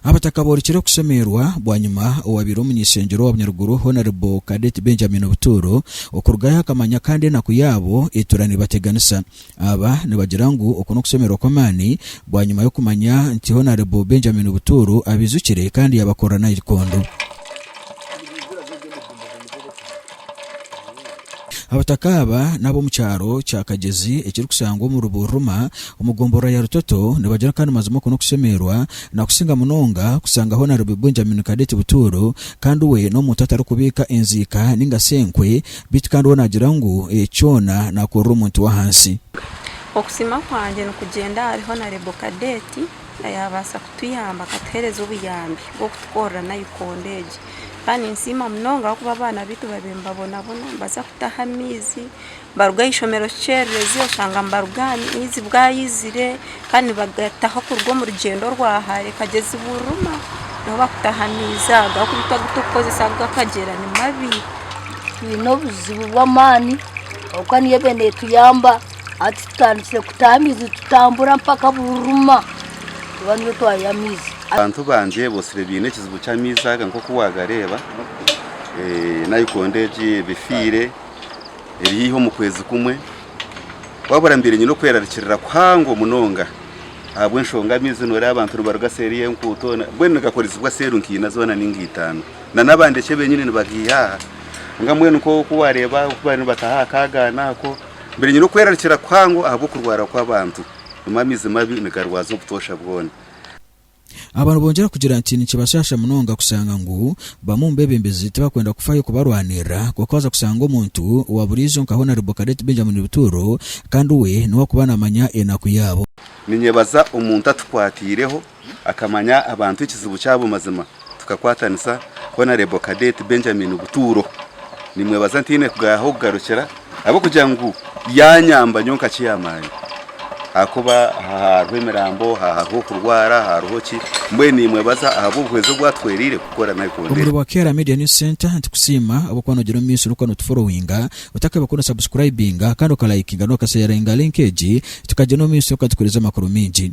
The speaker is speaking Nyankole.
abataka borekire okushemerwa bwanyima owabaire omunyeshengyero wa bunyaruguru honorable cadet benjamin obutuuro okurugayo akamanya kandi enaku yaabo etuura nebateganisa Aba nibagira ngu oku n'okushemererwa okw'amaani bwanyima y'okumanya nti Honourable Benjamin Butuuru abaijukire kandi yaabakorera naikondo. Abataka aba n'ab'omu kyaro kya Kagyezi ekirikushangwa omu Rubuuru Ruma omu gomboroora ya Rutoto nibagira kandi mazima oku n'okushemererwa nakusinga munonga kushanga Honourable Benjamin Cadet Butuuru kandi we n'omuntu atarikubiika enziika ninga shi enkwe Beitu kandi we naagira ngu eki kyona naakorera omuntu w'ahansi. Okusiima kwangye nikugyenda ahari Honarebo Kadeeti ayaabaasa kutuyamba akatuheereza obuyambi bw'okutukorera naikondo egi. Kandi ninsiima munonga ahabw'okuba abaana beitu babiire nibabonabona, nibaza kutaha amaizi, baruga aha ishomero kikyererezi oshanga nibaruga aha maizi bwayizire, kandi nibagataho kuruga omu rugyendo rwa hare kagyezi buriruma niho bakutahamiize ago agu orikubaasa kukoresa agu akagyera ni mabi twine obuzibu bw'amaani kwonka niyo eriyo netuyamba hati tutandikire kutaha amaizi nitutambura mpaka buriruma kuba niyo twayiha amaizi abantu bangye botsire baine ekizibu ky'amaizi aga nk'oku wagareeba nayikondo egi ebifiire eri haihi omu kwezi kumwe, wabura mbaire nyine okwerarikirira kuhango munonga ahabw'enshonga amaizi nooreeba abantu nibaruga seeri y'enkuuto mbwenu nigakorizibwa seeri nkaina zoona nainga itaano nan'abandi eki benyini nibagaiha aha kwonka mbwenu nk'oku waareeba aha oku babaire nibataha aha kaagaana ako mbaire nyine okwerarikirira kuhango ahabw'okurwara kw'abantu, amaizi mabi nigarwaza obutoosha bwoona. Aba nibongera kugira nti nikibashaasha munonga kushanga ngu bamwe omu beebembezi tibakwenda kufayo kubarwanirira, kwonka waza kushanga omuntu wa buriijo nka Honarebo Cadet Benjamin Bituuro kandi we niwe orikuba naamanya enaku yaabo. Ninyebaza omuntu atukwatiireho akamanya abantu ekizibu kyabo mazima tukakwatanisa, Honarebo Cadet Benjamin Bituuro. Nimwebaza ntaine ahu kugarukira. ahabw'okugira ngu yaanyamba nyowe nka chairman ahakuba aha hariho emirambo, aha hariho okurwara, aha hariho ki, mbwenu niimwebaza ahabw'obuhwezi obu atwereire kukora nabi kurungi. Omuri bwa Kehra Media News Centre nitukusiima ahabw'okuba noogira omu maisho orikuba nootuforowinga, otakabaire ku nosabusikurayibinga kandi okalayikinga n'okasheyaringa linka egi, tukagyenda omu maisho orikuba nootuheereza amakuru maingi.